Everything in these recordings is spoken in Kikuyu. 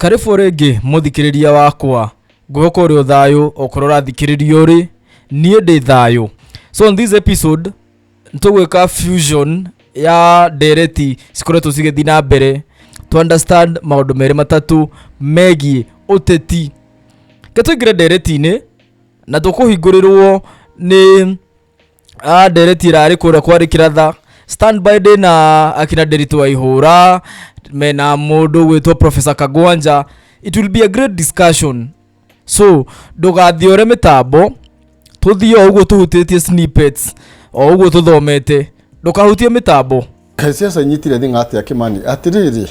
karĩbũ rĩngĩ mũthikĩrĩria wakwa ngũgũkorwo ũrĩ ũthayũ okorwo ũrathikĩrĩria ũrĩ niĩ ndĩ thayũ so in this episode nĩtũgwĩka fusion ya ndereti cikoretwo cigĩthiĩ na mbere to understand maũndũ merĩ matatũ megiĩ ũteti ke tũingĩre ndereti-inĩ na tũkũhingũrĩrwo nĩ Ah, ndereti ĩrarĩ kũrĩa kwarĩ kĩratha standby ndĩ na akina nderitũ wa ihũra mena mũndũ gwĩtwo professor kagwanja it will be a great discussion so ndũgathiore mĩtambo tũthiĩ o ũguo tũhutĩtie snippets o ũguo tũthomete ndũkahutie mĩtambo ciaca inyitire thing'a atĩa kĩmani atĩrĩrĩ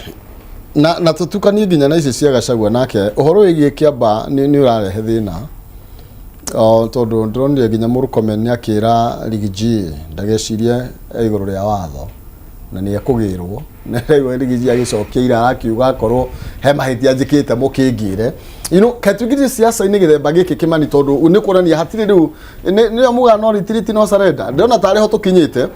na, na tũtukanie nginya na icio cia gacagua nake ũhoro wĩgiĩ kĩamba nĩ nĩ ũrarehe thĩna O, tondũ ndĩronire nginya mũrũkomen nĩ akĩra rigiji ndagecirie e igũrũ rĩa watho na nĩ ekũgĩrwo na rĩu rigiji agĩcokia ira arakiuga akorwo he mahĩtia njĩkĩte mũkĩngĩre you know, ketũgiri ciaca-inĩ gĩthemba gĩkĩ kĩmani tondũ nĩ kuonania hatirĩ rĩu nĩ- nĩyo muga no retreat no surrender ndĩrona tarĩ ho tũkinyĩte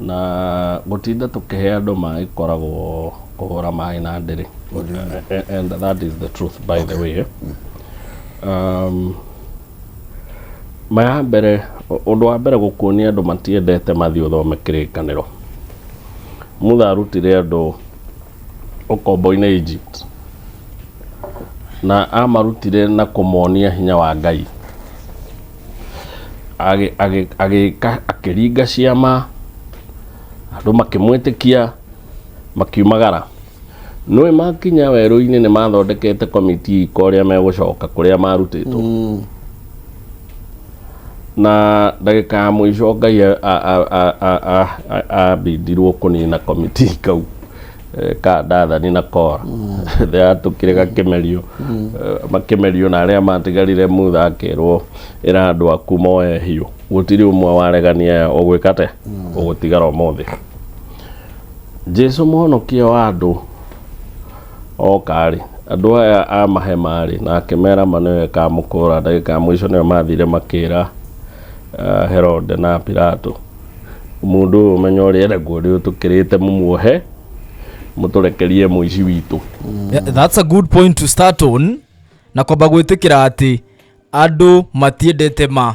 Na gũtinda tũkĩhe andũ maĩ koragwo kũhũra maĩ na ndĩrĩ. And that is the truth by okay. the way. Eh? Mm. Um, maya mbere ũndũ wa mbere gũkuonia andũ matiendete mathiĩ ũthome kĩrĩkanĩro mutha arutire andũ ũkombo-inĩ Egypt, na amarutire na kũmonia hinya wa Ngai. Agĩ- agĩ- Agĩka akĩringa ciama, andũ makĩmwĩtĩkia, makiumagara. Nũĩ makinya werũ-inĩ nĩ mathondekete komiti ika ũrĩa megũcoka kũrĩa marutĩtwo. na ndagĩka ya mũico ngai a- a- a- a- a- a- a- ambindirwo kũnina komiti kau eh, ka ndathani na kora thea tũkĩrĩ gakĩmerio eh, makĩmerio na arĩa matigarire mutha akerwo ĩra andũ aku moe hiũ gũtirĩ ũmwe waregania ũgwĩka te ũgũtigara ũmũthĩ jesu mũhonokia wa andũ Ooka-rĩ, andũ aya aamahe marĩ, na akĩmera ma nĩwe ĩkaamũkũũra ndagĩka ya mũico. Nĩo maathire makĩĩra Herode na Pilato, Mũndũ ũyũ ũmenyo ũrĩa enaguo rĩu tũkĩrĩte mũmuohe, mũtũrekerie mũici witũ. Yeah, that's a good point to start on na kwamba gwĩtĩkĩra atĩ andũ matiendete ma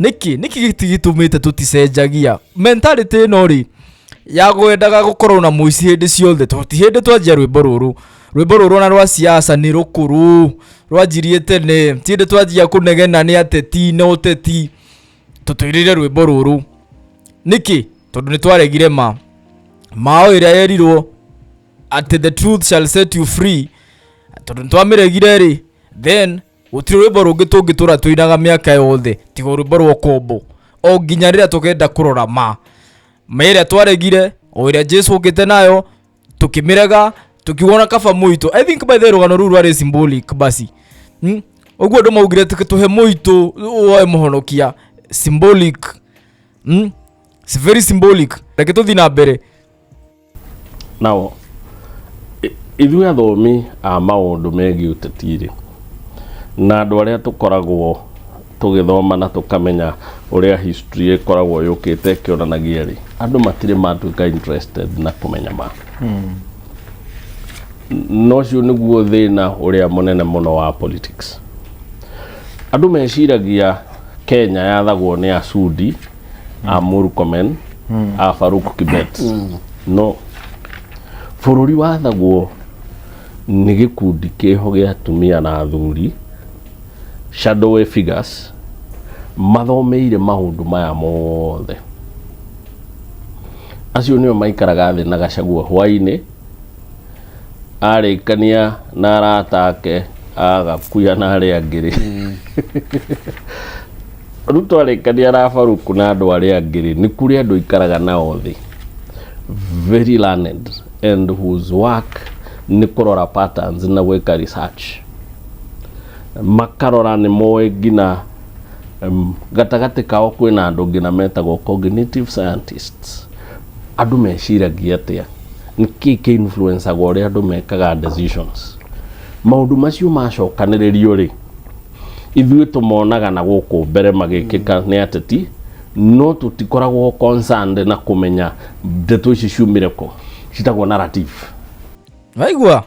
nĩkĩ nĩkĩ gĩti gĩtũmĩte tũticenjagia mentality ĩno rĩ ya gwendaga gũkorwo na mũici hĩndĩ ciothe tondũ ti hĩndĩ twanjia rwĩmbo rũrũ rwĩmbo rũrũ ona rwa siasa nĩ rũkũrũ rwanjirie tene ti hĩndĩ twanjia kũnegena nĩ ateti na ũteti tũtwĩrĩre rwĩmbo rũrũ nĩkĩ tondũ nĩ twaregire ma mao ĩrĩa yerirwo atĩ the truth shall set you free tondũ nĩ twamĩregire rĩ then gũtirĩ rwĩmbo rũngĩ tũngĩtũra tũinaga mĩaka yothe tiga rwĩmbo rwa ũkombo o nginya rĩrĩa tũkenda kũrora ma ma ĩrĩa twaregire o ĩrĩa jesu ũkĩte nayo tũkĩmĩrega tũkiuona kaba mũitũ i think by the way, rũgano rũu rwarĩ symbolic basi Hmm? ũguo andũ maugire tũke tũhe mũitũ woe mũhonokia symbolic Hmm? It's very symbolic reke tũthiĩ na mbere Now, i- ithuĩ athomi a maũndũ megiĩ ũteti-rĩ, na andũ arĩa tũkoragwo tũgĩthoma na tũkamenya ũrĩa history ĩkoragwo yũkĩte ĩkĩonanagia-rĩ, andũ matirĩ matuĩka interested na kũmenya ma. Na ũcio nĩguo thĩna ũrĩa mũnene mũno wa politics. Andũ meciragia Kenya yathagwo nĩ Acudi, a Murkomen a Farouk Kibet no bũrũri wathagwo nĩ gĩkundi kĩho gĩa atumia na athuri shadowy figures mathomeire maũndũ maya mothe acio nĩo maikaraga thĩ na gacagua hwainĩ arĩkania na arata ake agakuya na arĩa angĩ rĩ Rĩu twarĩkania na Farouk na andũ arĩa angĩ rĩ, nĩ kũrĩ andũ ikaraga nao thĩ very learned and whose work nĩ kũrora patterns na gwĩka research makarora nĩ moĩ nginya em, gatagatĩ kao kwĩna andũ nginya metagwo cognitive scientists andũ meciragia atĩa nĩ kĩĩ kĩ influencaga ũrĩa andũ mekaga decisions maũndũ macio macokanĩrĩrio rĩ ithuĩ tũmonaga na gũkũ mbere magĩkĩka nĩ ateti no tũtikoragwo concerned na kũmenya ndeto ici ciumire kũ citagwo narrative waigua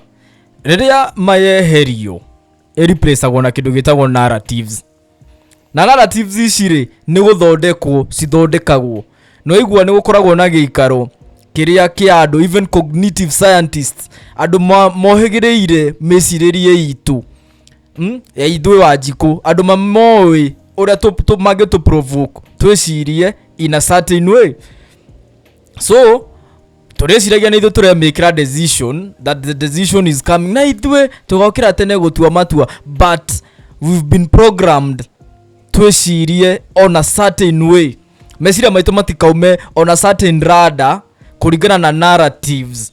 rĩrĩa mayeherio ĩreplacagwo na kĩndũ gĩtagwo narratives na narratives ici rĩ nĩ gũthondekwo cithondekagwo na waigua nĩ gũkoragwo na gĩikaro kĩrĩa kĩa andũ even cognitive scientists andũ ma- mohĩgĩrĩire mĩcirĩrie itũ Hmm? ya ithuĩ wa njikũ andũ mamoĩ ũrĩa tũ- tũ- mangĩtũ provoke twĩcirie in a certain way so tũrĩciragia nĩ ithuĩ tũremĩkĩra decision that the decision is coming na ithuĩ tũgokĩra tene gũtua matua but we've been programmed twĩcirie on a certain way meciria maitũ matikaume on a certain rada kũringana na narratives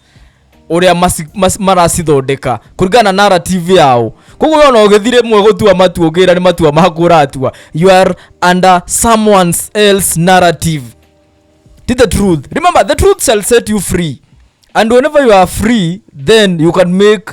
ũrĩa maci- maci- maracithondeka kũringana na narrative yao koguo wona ũgĩthire mwe gũtua matua ũngĩra nĩ matua maku ũratua you are under someone else narrative Tis the truth remember the truth shall set you free and whenever you are free then you can make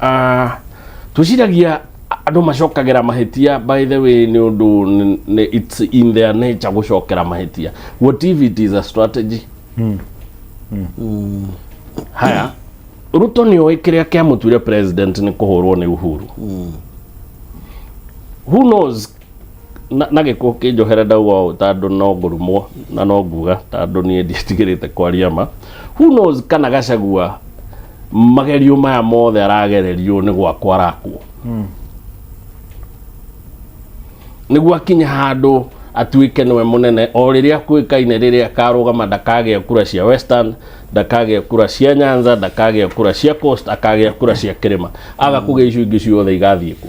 Ah, twĩciragia andũ macokagĩra mahĩtia by the way nĩ ũndũ nĩ- nĩ- it's in their nature gũcokera mahĩtia what if it is a strategy Mm. haya ruto nĩ oĩ kĩrĩa kĩamũtuire president nĩ kũhũrwo nĩ uhuru who knows na na gĩkũ kĩnjohere ndauga ũũ tandũ no ngũrumwo na no nguga tandũ niĩ ndiĩtigĩrĩte kwaria ma who knows kana gacagua magerio maya mothe aragererio nĩ gwakwa arakwo nĩguo akinye handũ atuĩke nĩwe mũnene o rĩrĩa kwĩkaine rĩrĩa akarũgama ndakagĩa kura cia western ndakagĩa kura cia nyanza ndakagĩa kura cia coast akagĩa kura cia kĩrĩma aga kũgĩa icio ingĩ ciothe igathiĩ kũ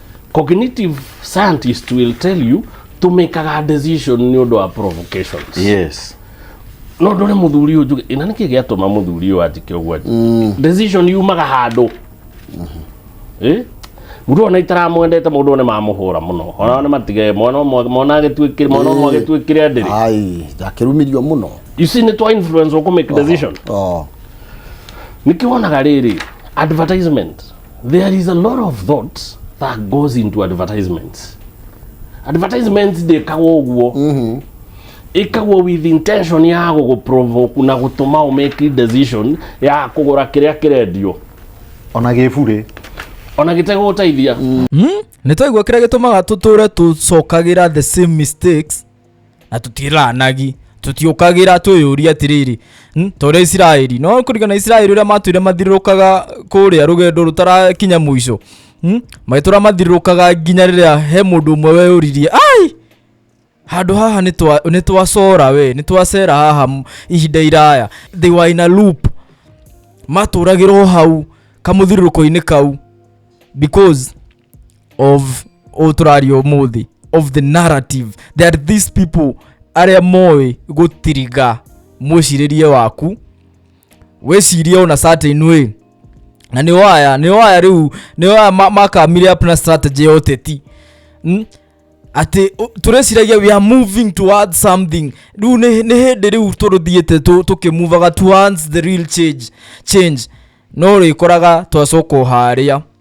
cognitive scientist will tell you to make a decision nĩ ũndũ wa provocations yes no ndore muthuri uyu njuge ina niki giatuma muthuri uyu anjike uguo mm. decision yumaga handu eh Muru ona itaramwendete mundu ni mamuhura muno ona ni matige mwana ũmwe- mwana agituikire mwana ũmwe agituikire ndiri ai ndakirumirio muno you see ni twa influence uku make decision oh niki wonaga riri advertisement There is a lot of thought that goes into advertisements. Advertisements ndĩkagwo ũguo mm-hmm. ĩkagwo with intention ya gũgũprovoke na gũtũma ũmake decision ya kũgũra kĩrĩa kĩrendio ona gĩbure ona gĩtegũgũteithia mm. mm. nĩ twaigua kĩrĩa gĩtũmaga tũtũre tũcokagĩra the same mistakes na tũtiĩranagi tũtiũkagĩra twĩyũria atĩrĩrĩ "Hmm, ta ũrĩa isiraeli no kũringana na isiraeli ũrĩa matwĩre mathiũrũrũkaga kũrĩa rũgendo rũtarakinya mũico Hmm, magĩtũra mathiũrũrũkaga nginya rĩrĩa he mũndũ ũmwe weyũririe ai handå haha nĩ twa- nĩ twacora we nĩ twacera haha m- ihinda iraya they were in a loop matũragĩrwo hau kamũthiũrũrũko-inĩ kau because of å tũraria ũmũthĩ of the narrative that these people arĩa moĩ gũtiriga mwĩcirĩrie waku wĩcirie ona certain way na nĩ waya nĩ waya rĩu nĩ waya ma- makamire up na strategy ya ũteti Mm? atĩ ũ- tũreciragia we are moving towards something rĩu nĩ nĩ hĩndĩ rĩu tũrũthiĩte tũ- tũkĩmuvaga towards the real change change no rĩkoraga twacoka o harĩa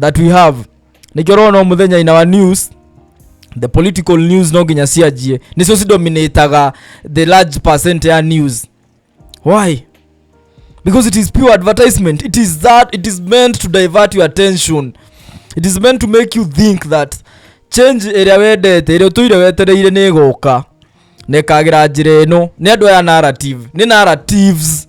that we have nĩkĩo rona mũthenya in our news the political news no nginya cianjie nĩcio cidominataga the large percent ya news why because it is pure advertisement it is that it is meant to divert your attention it is meant to make you think that change ĩrĩa wendete ĩrĩa ũtũire wetereire nĩ ĩgoka na ĩkagĩra njĩra ĩno nĩ andũ aya narrative nĩ narratives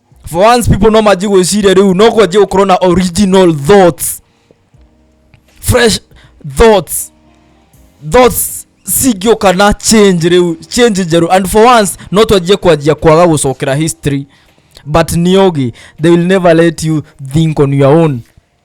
for once people no manji gwĩciria rĩu no kwanjia gũkorwo na original thoughts fresh thoughts thoughts cingĩũka na change rĩu change njerũ and for once no twanjie kwanjia kwaga gũcokera history but niogi they will never let you think on your own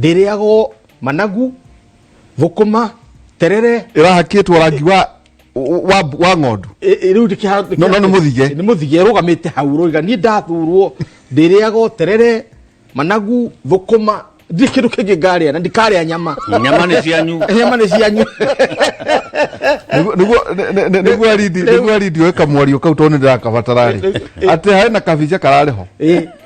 ndĩrĩagwo managu thũkũma terere ĩrahakĩtwo rangi wa wa wa ng'ondu ĩ- ĩ- rĩu ndĩkĩha- No, no, nĩ mũthige. nĩ mũthige rũgamĩte hau rũiga niĩ ndathurwo ndĩrĩagwo terere managu thũkũma ndirĩ kĩndũ kĩngĩ ngarĩa na ndikarĩa nyama nyama nĩ cianyu nyama nĩ cianyu Nĩguo- nĩguo- nĩ- nĩ- nĩ- nĩguo arindi- nĩguo arindi oe kamwario kau tondũ nĩ ndĩrakabatara rĩ atĩ harĩ na kabica kararĩ ho Ĩ,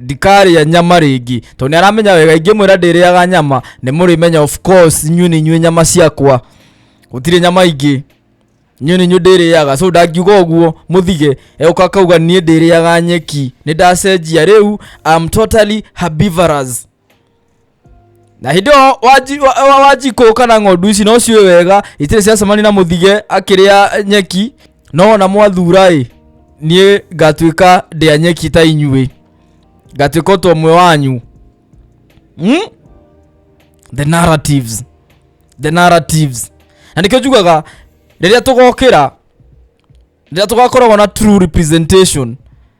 ndikarĩa nyama rĩngĩ tondũ nĩ aramenya wega ingĩmwĩra ndĩrĩaga nyama nĩ mũrĩmenya of course inyuĩ nĩ inyuĩ nyama ciakwa gũtirĩ nyama ingĩ inyuĩ nĩ inyuĩ ndĩrĩaga so ndangiuga ũguo mũthige eũka akauga niĩ ndĩrĩaga nyeki nĩ ndacenjia rĩu am totally herbivorous na hĩndĩ ĩyo wanji- wa- wa- wanjikũ kana ng'ondu ici no ciũĩ wega itirĩ ciacemania na mũthige akĩrĩa nyeki no ona mwathura-ĩ niĩ ngatuĩka ndĩa nyeki ta inyuĩ ngatuĩka ũtũ ũmwe wanyu hmm? the narratives the narratives na nĩkĩo njugaga rĩrĩa tũgokĩra rĩrĩa tũgakoragwo na true representation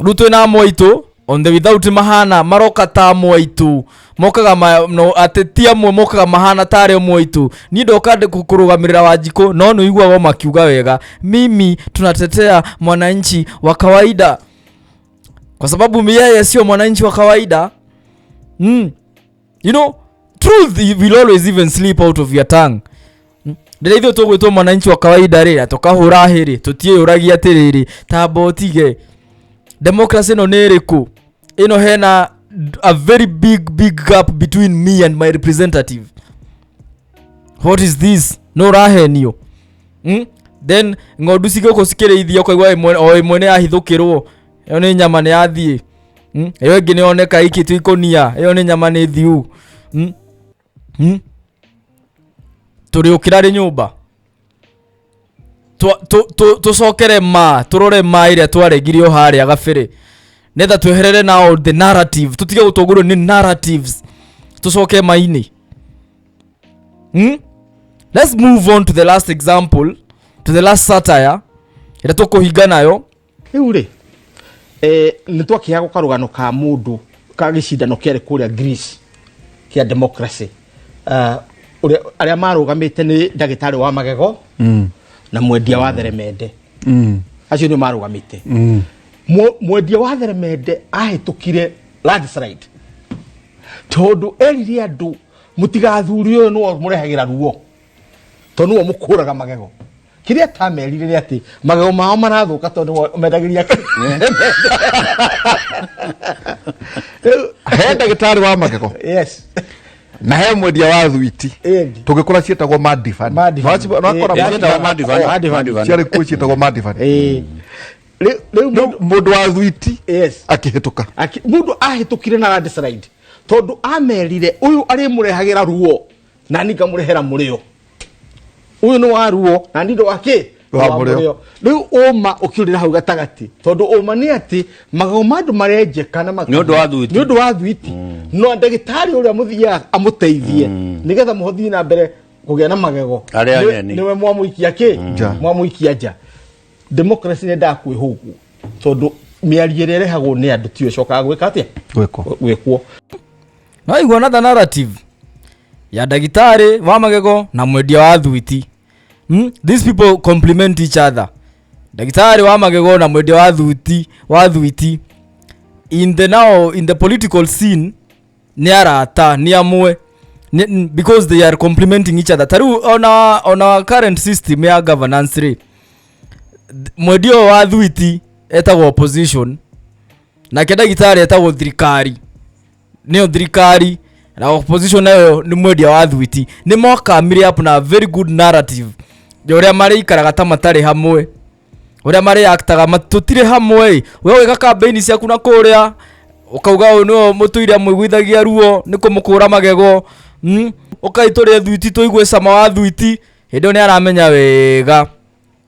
rĩu twĩ na moitũ on the without mahana maroka ta moitũ mokaga ma, no, atĩ ti amwe mokaga mahana ta arĩa moitũ niĩ ndoka ndĩ kũ- kũrũgamĩrĩra wanjikũ no nĩ iguaga makiuga wega mimi tunatetea mwananchi wa kawaida kwa sababu yeye sio mwananchi wa kawaida mm. you know truth i- will always even slip out of your tongue rĩrĩa ithuĩ tũgwĩtwo mwananchi wa kawaida rĩ na tũkahũra hĩ rĩ tũtiĩyũragia atĩrĩrĩ tamba ũtige democracy ĩno nĩ ĩrĩkũ ĩno hena d- a very big big gap between me and my representative what is this no ũrahenio mm? then ng'ondu cigĩũkũ cikĩrĩithia ũkaigua ĩmwe- o ĩmwe nĩ yahithũkĩrwo ĩyo nĩ nyama nĩ yathiĩ Mm, ĩyo ĩngĩ nĩyoneka iki tu ikũnia ĩyo nĩ nyama nĩ thiu Mm, mm. tũrĩ ũkĩra rĩ nyũmba Twa- tũ- tũ- tũcokere ma tũrore ma ĩrĩa twaregire o harĩa gabĩrĩ nĩgetha tweherere nao the narrative tũtige gũtũngũrwo nĩ narratives tũcoke mainĩ hmm? let's move on to the last example to the last satire ĩrĩa tũkũhinga nayo rĩu rĩ eh, nĩ twakĩheagwo karũgano ka mũndũ ka gĩcindano kĩarĩ kũrĩa greece kĩa democracy Ah, ũrĩa- arĩa marũgamĩte nĩ ndagĩtarĩ wa magego na mwendia wa theremende acio nĩ marũgamĩte Mwe- mwendia wa theremende ahĩtũkire landslide tondũ erire andũ mũtigathuri ũyũ nĩwe mũrehagĩra ruo to nĩwe mũkũraga magego kĩrĩa atamerire nĩ atĩ magego mao marathũka tondũ nĩwe ũmendagĩria Rĩu- he ndagĩtarĩ wa magego yes na he mwendia wa thwiti Endi. tũgĩkora ciĩtagwo madifan Madifan. Eh, ciĩtagwo Madifan, Madifan. ciarĩ kuo ciĩtagwo madifan Eh, rĩu- rĩu mũndũ- mũndũ wa thwiti yes akĩhĩtũka Aki- mundu ahĩtũkire na landslide tondũ amerire ũyũ arĩmũrehagĩra ruo na ni ngamurehera murio uyu ni waruo na ni ndo wake Wa mũrĩo. riu uma ukiurira hau gatagati tondu uma ni ati magego ma andu marenjeka na maka- Nĩ ũndũ wa thuiti. nĩ ũndũ wa thuiti no ndagĩtarĩ ũrĩa mũthiaga amũteithie nĩgetha mũhothie na mbere kũgĩa na magego Arĩa Nĩ- ageni. nĩwe mwamũikia kĩ Nja. mwamũikia nja democracy nĩ ndakwĩhũgwo tondũ mĩario ĩrĩa ĩrehagwo nĩ andũ tiyo ĩcokaga gwĩka atĩa gwĩkwo gwĩkwo nĩwaigua another narrative ya ndagĩtarĩ wa magego na mwendia wa thuiti hmm? these people compliment each other ndagĩtarĩ wa magego na mwendia wa thuiti wa thuiti in the now in the political scene nĩ arata nĩ amwe Nĩ- n- because they are complementing each other tariu ona ona current system ya governance rĩ th- mwendia ũyũ wa thuiti etagwo opposition nake ndagĩtarĩ etagwo thirikari nĩyo thirikari na opposition nayo nĩ mwendia wa thwiti nĩ moka mire up na very good narrative ya ũrĩa marĩikaraga ta matarĩ hamwe ũrĩa marĩaktaga tũtirĩ hamwe ĩ we wĩka kambĩini ciaku na kũrĩa ũkauga ũyũ nĩwe mũtũire mwĩgwithagia ruo nĩ kũmũkũra magego mm? ũkai tũrĩe thwiti tũigue cama wa thwiti hĩndĩ ĩyo nĩ aramenya wega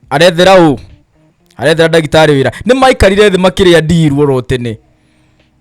arethera ũ arethera ndagĩtarĩ wĩra nĩ maikarire thĩ makĩrĩa ndirwo ro tene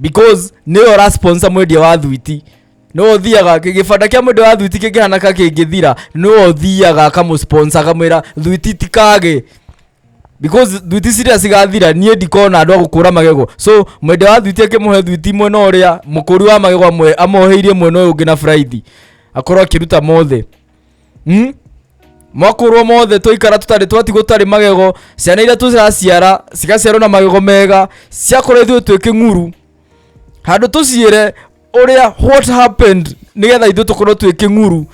because nĩwe ũrasponsor mwendia wa thwiti nĩwe ũthiaga kĩ- gĩbanda kĩa mwendia wa thwiti kĩngĩhana ka kĩngĩthira nĩwe ũthiaga akamũsponsor akamwĩra thwiti tikage because thwiti ciria cigathira niĩ ndikona andũ a gũkũra magego so mwendia wa thwiti akĩmũhe thwiti mwena ũrĩa mũkũri wa magego amwe amoheirie mwena ũyũ ũngĩ na buraithi akorwo akĩruta mothe hmm? mwakorwo mothe twaikara tũtarĩ twati gũtarĩ magego ciana iria tũraciara cigaciarwo na magego mega ciakorwo ithuĩ twĩ kĩng'uru handũ tũciĩre ũrĩa what happened nĩgetha ithuĩ tũkorwo twĩ kĩng'uru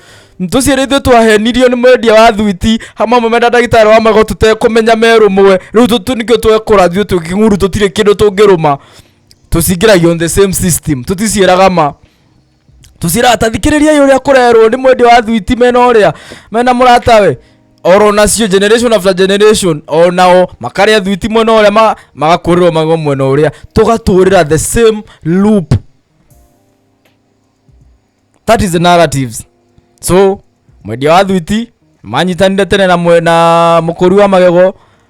tũciĩre ithuĩ twahenirio nĩ mwendia wa thuiti hamwe amwe mena ndagĩtarĩ wa magego tũtekũmenya merũmwe rĩu tũtũ nĩkĩo twekora ithuĩ twĩ kĩng'uru tũtirĩ kĩndũ tũngĩrũma tũcingĩragio on the same system tũticiĩraga ma tũcirata thikĩrĩriai ũrĩa kũrerwo nĩ mwendia wa thwiti mena ũrĩa mena mũratawe oro nacio generation after generation onao makarĩa thwiti mwena ũrĩa ma- magakũrĩrwo magego mwena ũrĩa tũgatũrĩra the same loop that is the narratives so mwendia wa thwiti manyitanire tene na, mwe- na mũkũri wa magego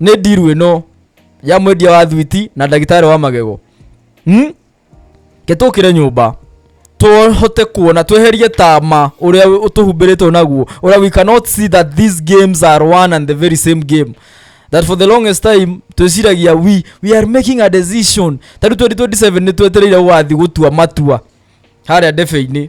nĩ ndiru ĩno ya mwendia wa thwiti na ndagĩtarĩ wa magego hmm? ke tũkĩre nyũmba tũhote kuona tweherie tama ũrĩa ũtũhumbĩrĩtwo naguo ũrĩa we cannot see that these games are one and the very same game that for the longest time twĩciragia we, we are making a decision tarĩu 2027 nĩ twetereire gũgathiĩ gũtua matua harĩa ndebe-inĩ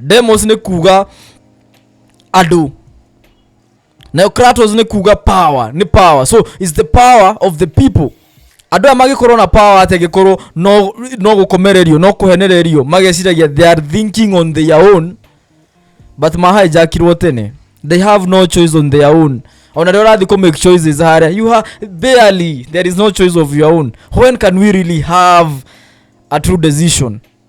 demos nĩ kuga andũ nayo kratos nĩ kuga power nĩ power so is the power of the people andå aya magĩkorwo na power atĩ angĩkorwo no no gũkomererio no kũhenererio mageciragia they are thinking on their own but mahijackirwo tene they have no choice on their own ona rä ũrathiĩ kũ make choices harĩa you have barely there is no choice of your own when can we really have a true decision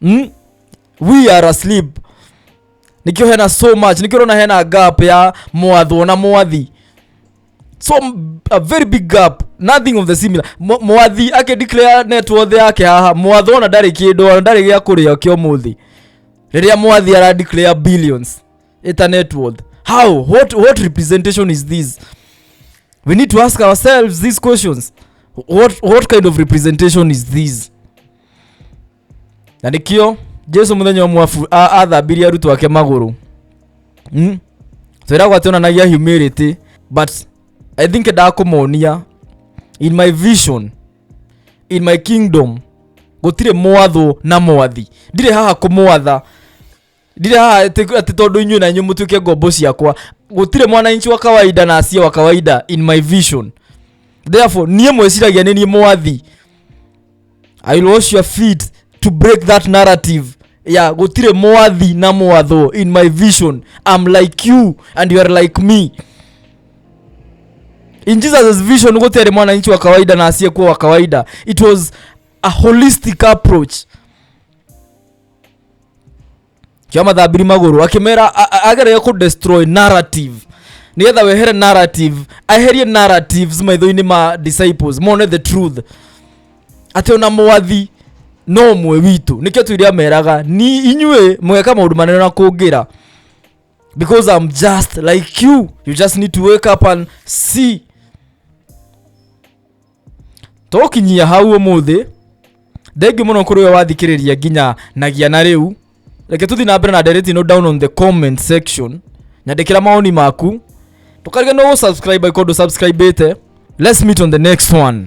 mm? we are asleep nikio hena so much nikio rona hena gap ya mwathwo na mwathi so m- a very big gap nothing of the similar Mwa- mwathi ake declare net worth yake haha mwathwo ona ndarĩ kĩndũ ona ndarĩ gĩa kũrĩa kĩa ũmũthĩ rĩrĩa mwathi ara declare billions ĩta net worth how what, what representation is this we need to ask ourselves these questions what, what kind of representation is this na nĩkĩo jesu mũthenya ũmwe abu- a- athambirie arutwo ake magũrũ mm? twĩragwo atĩ onanagia humility but i think ndakũmonia in my vision in my kingdom gũtirĩ mwathwo na mwathi ndirĩ haha kũmwatha ndirĩ haha atĩ atĩ tondũ inyuĩ na inyuĩ mũtuĩke ngombo ciakwa gũtirĩ mwananchi wa kawaida na asia wa kawaida in my vision therefore niĩ mwĩciragia nĩ niĩ mwathi i will wash your feet to break that narrative ya gũtirĩ mwathi na mwathwo in my vision am like you and you are like me in jesus vision gũtiarĩ mwananchi wa kawaida na asiyekuwa wa kawaida it was a holistic approach kĩa mathambiri magũrũ akĩmera a- a- agereire kũ destroy narrative nĩgetha wehere narrative aherie narratives maitho-inĩ ma disciples mone the truth atĩ ona mwathi no ũmwe witũ nĩkĩo tuiria meraga ni inyuĩ mũgeka maũndũ manene na kũngĩra because i'm just like you you just need to wake up and see tũgũkinyia hau ũmũthĩ thengiũ mũno kũrĩ ũyo wathikĩrĩria nginya nagia na rĩu reke tũthiĩ na mbere na ndereti no down on the comment section nyandĩkĩra mawoni maku tũkarige no gũsubscribe angĩkorwo ndũsubscribĩte let's meet on the next one